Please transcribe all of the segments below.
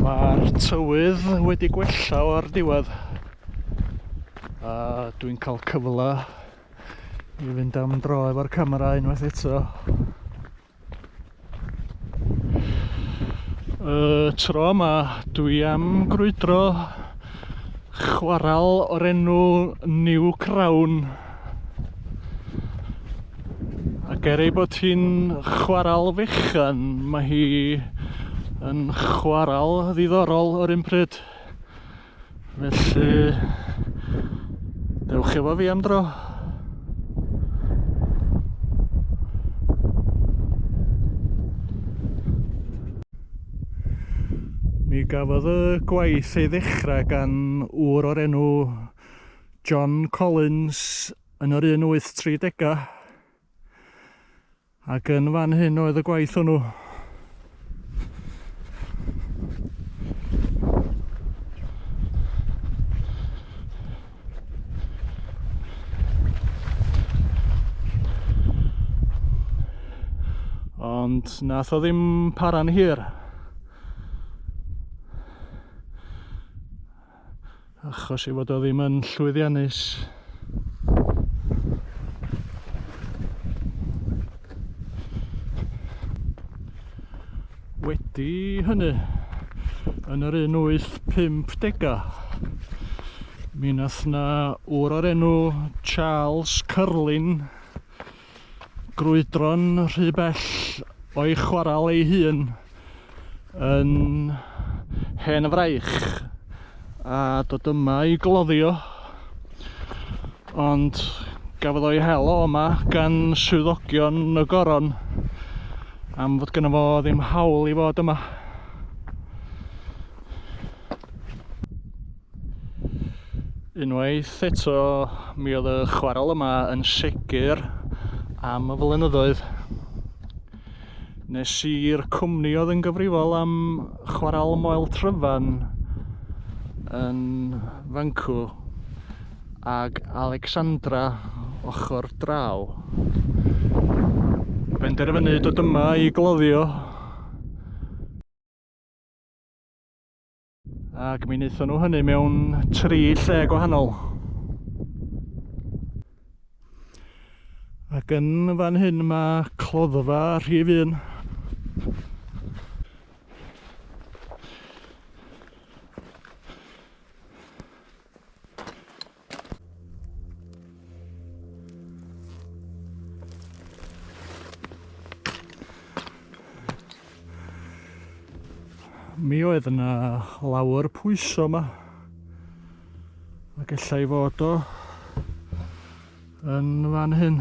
Mae'r tywydd wedi gwella o'r diwedd a dwi'n cael cyfle i fynd am dro efo'r camera unwaith eto. Y tro yma dwi am grwydro chwaral o'r enw New Crown ac er ei bod hi'n chwarael fechan mae hi yn chwarael ddiddorol o'r un pryd felly dewch efo fi am dro mi gafodd y gwaith ei ddechrau gan ŵr o'r enw John Collins yn yr 1830au. Ac yn fan hyn oedd y gwaith hwnnw. Ond nath o ddim para'n hir. achos ei fod o ddim yn llwyddiannus. Wedi hynny, yn yr un 850 mi nath na wr o'r enw Charles Curlin grwydro'n rhy bell o'i chwarael ei hun yn hen fraich a dod yma i gloddio ond gafodd o'i hel o yma gan swyddogion y goron am fod gyda fo ddim hawl i fod yma Unwaith eto, mi oedd y chwarel yma yn segur am y flynyddoedd. Nes i'r cwmni oedd yn gyfrifol am chwarel Moel Tryfan yn Fancw ag Alexandra ochr draw. Benderfynu dod yma i gloddio Ac mi wnaethon nhw hynny mewn tri lle gwahanol. Ac yn fan hyn mae cloddfa rhif un. mi oedd yna lawer pwyso yma a gallai fod o yn fan hyn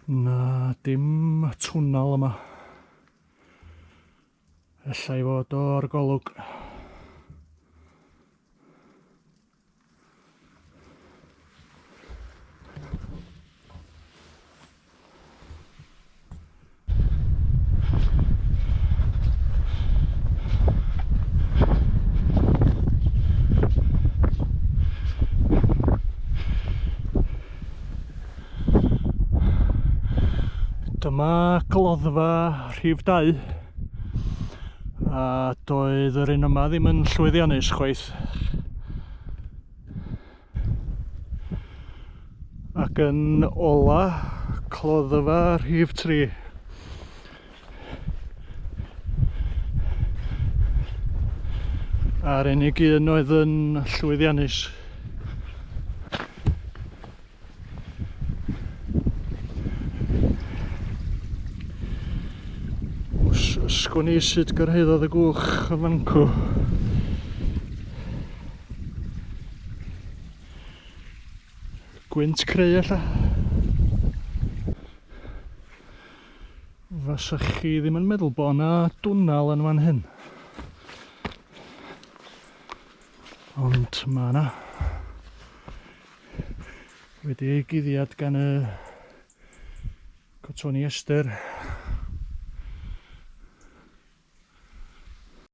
Na, dim twnnel yma. Ella i fod o'r golwg. Dyma gloddfa rhif 2 a doedd yr un yma ddim yn llwyddiannus chwaith. ac yn ola cloddfa rhif 3 a'r unig un oedd yn llwyddiannus. Sgwn i sut gyrhaeddodd y gwch y fancw. Gwynt creu alla. Fasa chi ddim yn meddwl bod yna dwnnel yn fan hyn. Ond mae yna. Wedi ei guddiad gan y cotoni ester.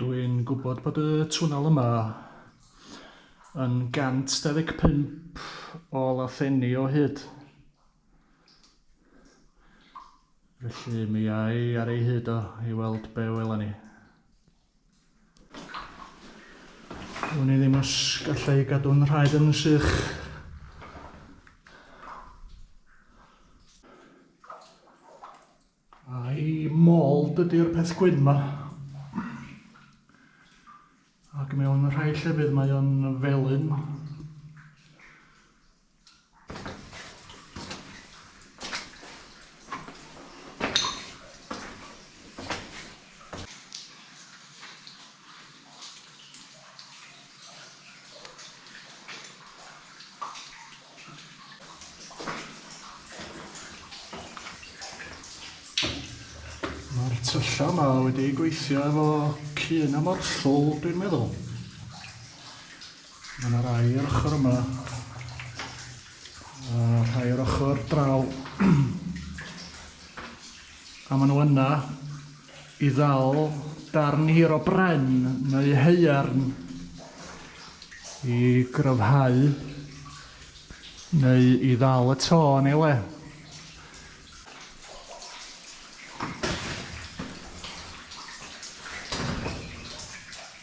Dw i'n gwybod bod y twnnel yma yn 125 o lathenni o hyd. Felly mi ai ar ei hyd o i weld be wela ni. Wn i ddim os gallai gadw'n rhaid yn sych. A'i mold ydy'r peth gwyn ma. Ac mewn rhai llefydd mae o'n felyn. Ma'r tyllau yma wedi gweithio efo cyn a morthwl dwi'n meddwl. Mae yna rai ar ochr yma a rhai ar ochr draw. A maen nhw yna i ddal darn hir o bren neu haearn i gryfhau neu i ddal y to yn ei le.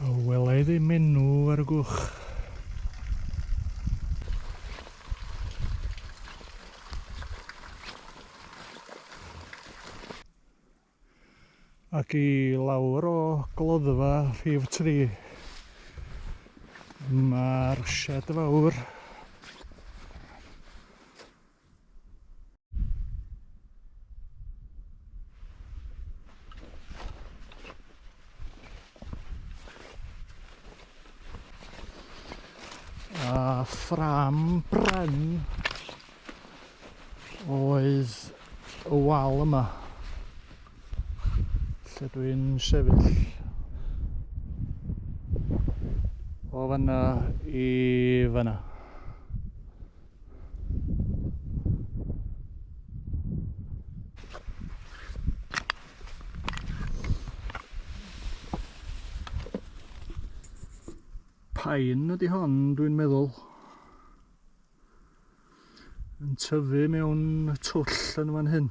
O, wela i ddim enw ar y gwch. Ac i lawr o gloddfa rhif 3 mae'r sied fawr a ffram bren oedd y wal yma lle dwi'n sefyll o fanna i fanna pain ydy hon dwi'n meddwl yn tyfu mewn twll yn fan hyn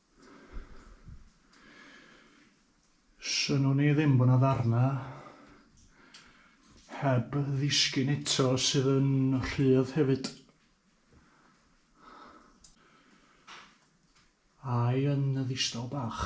Synwn i ddim bod 'na ddarna heb ddisgyn eto sydd yn rhydd hefyd. Ai yn y ddistaw bach.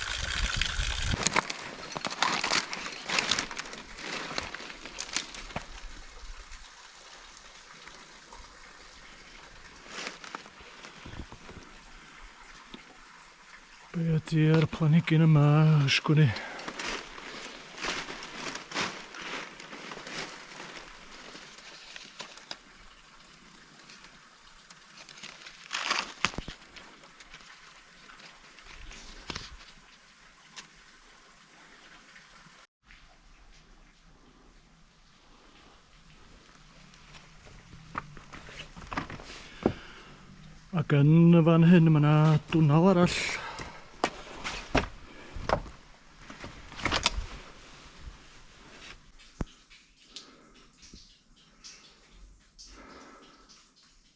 Be ydy'r planhigyn yma ysgwn i? Ac yn y fan hyn mae yna dwnnel arall.